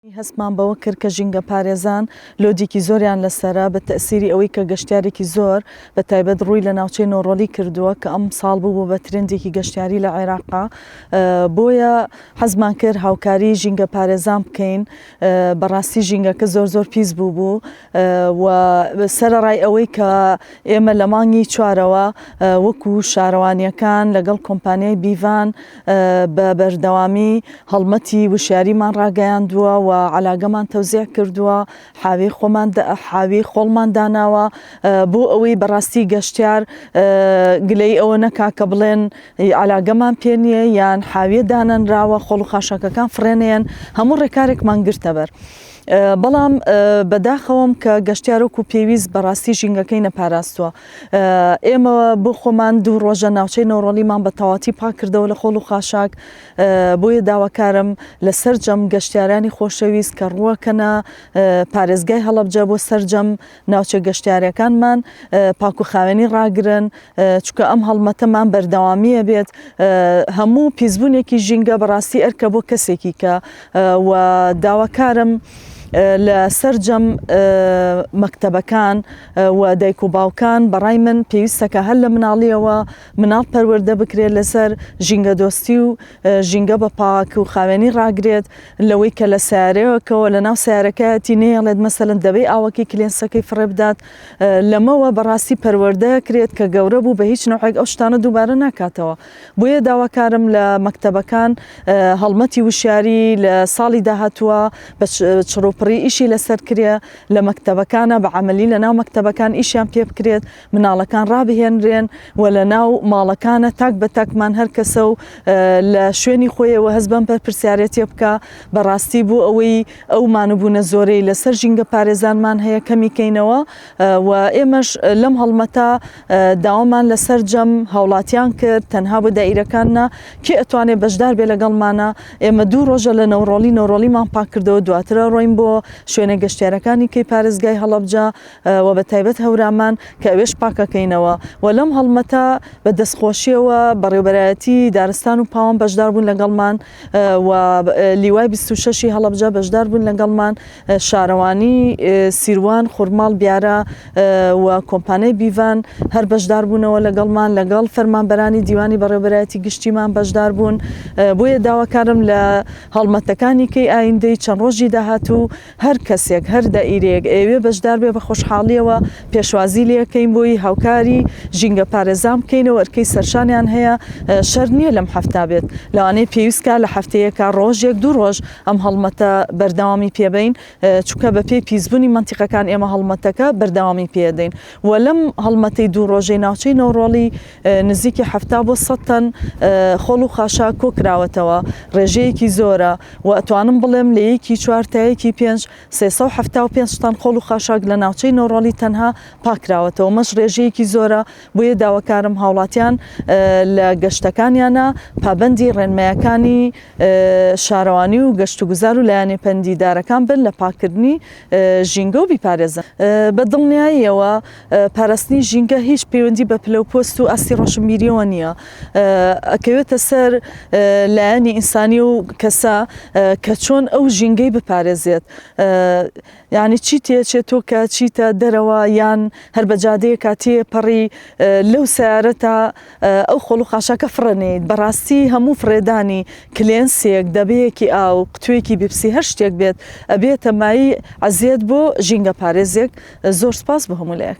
هەستمان بەوە کرد کە ژینگەپارێزان لۆدێکی زۆریان لەسەرە، بە تەئسیری ئەوەی کە گەشتیارێکی زۆر بە تایبەت ڕووی لە ناوچەی نۆڕۆلی کردووە کە ئەم ساڵ بووبوو بە ترێندێکی گەشتیاری لە عێراق بۆیە حەزمان کرد هاوکاری ژینگەپارێزان بکەین بەڕاستی ژینگەکە زۆر زۆر پیس بووبوو. و سەرەڕای ئەوەی کە ئێمە لە مانگی چوارەوە وەکو شارەوانیەکان لەگەڵ کۆمپانیای بیڤان بە بەردەوامی هەڵمەتی وشیاریمان ڕاگەیاندووە و علاگەمان تەوزیع کردووە حاوی خۆمان حاوی خۆڵمان داناوە بۆ ئەوەی بەڕاستی گەشتیار گلەی ئەوە نەکا کە بڵێن علاگەمان پێ نییە یان حاویە دانەنراوە خۆڵ و خاشەکەکان فڕێنێن هەموو ڕێکارێکمان گرتەبەر. بەڵام بە داخەوەم کە گەشتیارۆک و پێویست بەڕاستی ژینگەکەی نەپاراستووە ئێمە بۆ خۆمان دوو ڕۆژە ناوچەی نۆڕۆلیمان بە تەواتی پاک کردەوە لە خۆڵ و خاشاک بۆیە داواکارم لە سەررجەم گەشتیارانی خۆشەویست کە ڕووەکەنە پارێزگای هەڵبجە بۆ سرجەم ناوچە گەشتیارەکانمان پاک و خاوێنی ڕاگرن چکە ئەم هەڵمەتەمان بەردەوامیە بێت هەموو پیسبوونێکی ژینگە بەڕاستی ئەرکە بۆ کەسێکی کە و داواکارم لە سەررجەم مەکتتەبەکان و دایک و باوکان بەڕای من پێویستەکە هەر لە مناڵیەوە مناڵ پەروەەردە بکرێت لەسەر ژینگە دۆستی و ژینگە بە پاک و خاوێنی ڕاگرێت لەوەی کە لە سیارەیەکەوە لە ناو سیارەکەتی نێڵێت مەسەن دەبێ ئاوەکی کلێنسەکەی فڕێ بدات لەمەوە بەڕاستی پەروەەردە کرێت کە گەورە بوو بە هیچ نەوەک ئەو شتانە دووبارە ناکاتەوە بۆیە داواکارم لە مەکتتەبەکان هەڵمەتی وشیاری لە ساڵی داهاتووە بە چڕوپڕی ئیشی لەسەر کرێ لە مەکتتەبەکانە بە عملی لە ناو مەکتتەبەکان ئیشیان پێ بکرێت مناڵەکان ڕابهێنرێن و لە ناو ماڵەکانە تاک بە تاکمان هەر کەسە و لە شوێنی خۆیەوە هەز بەم پەرپرسیارەتە بکە بەڕاستی بوو ئەوەی ئەو مانوبوونە زۆرەی لەسەر ژینگە پارێزانمان هەیە کەمیکەینەوە و ئێمەش لەم هەڵمەتا داوامان لە سەررجەم هاوڵاتیان کرد تەنها بۆ دایرەکاننا کێ ئەتوانێت بەشدار بێ لەگەڵمانە ئێمە دوو ڕۆژە لە نەوڕۆڵی نەوڕۆڵیمان پاکردەوە دواترە ڕۆین بۆ شوێنە گەشتارەکانی کەی پارێزگای هەڵەبجە وە بە تایبەت هەورامان کە ئەوێش پاکەکەینەوە و لەم هەڵمەتە بە دەستخۆشیەوە بەڕێوبەرایەتی دارستان و پاوان بەشدار بوون لەگەڵمان و لیوای 26 هەڵەبجە بەشدار بوون لەگەڵمان شارەوانی سیروان خورماڵ بیارە و کۆمپانیای بیڤان هەر بەشدار بوونەوە لەگەڵمان لەگەڵ فەرمانبەرانی دیوانی بەڕێوبەرایەتی گشتیمان بەشدار بوون بۆیە داواکارم لە هەڵمەتەکانی کەی ئایندەی چەند ڕۆژی داهاتوو هەر کەسێک، هەر دائیرەیەک ئەیەوێ بەشدار بێ بە خۆشحاڵییەوە پێشوازی لێ ئەکەین بۆی، هاوکاری ژینگەپارێزان بکەینەوە، ئەرکەی سەرشانیان هەیە، شەرت نییە لەم حەفتا بێت، لەوانەیە پێویست کا لە حەفتەیەکا ڕۆژێک دوو ڕۆژ ئەم هەڵمەتە بەردەوامی پێ بەین، چونکە بە پێی پیسبوونی مەنتیقەکان ئێمە هەڵمەتەکە بەردەوامی پێ ئەدەین و لەم هەڵمەتەی دوو ڕۆژەی ناوچەی نەوڕۆڵی نزیکی حەفتا بۆ سەد تەن خۆڵ و خاشاک کۆکراوەتەوە، ڕێژەیەکی زۆرە و ئەتوانم بڵێم لە یەکی چوار تا یەکی پێنج سێ سەد و حەفتا و پێنج تەن خۆڵ و خاشاک لە ناوچەی نۆڕاڵی تەنها پاککراوەتەوە، مەش ڕێژەیەکی زۆرە، بۆیە داواکارم هاوڵاتیان لە گەشتەکانیانا پابەندی ڕێنمایەکانی شارەوانی و گەشتوگوزار و لایەنە پەندیدارەکان بن لە پاککردنی ژینگە و بیپارێزن بە دڵنیاییەوە پاراستنی ژینگە هیچ پەیوەندی بە پلە و پۆست و ئاستی ڕۆشنبیریەوە نییە ئەکەوێتە سەر لایەنی ئینسانی و کەسە کە چۆن ئەو ژینگەی بپارێزێت یعنی چی تێچێت تۆ کە چیتە دەرەوە یان هەر بە جادەیە کاتێ پەڕی لەو سیارە تا ئەو خۆڵ و خاشاکە فڕەنیت بەڕاستی هەموو فڕێدانی کلێنسێک دەبەیەکی ئاو قوتوێکی بیپسی هەر شتێک بێت ئەبێتە مای عەزیەت بۆ ژینگە پارێزێک زۆر سوپاس بۆ هەموو لایەک.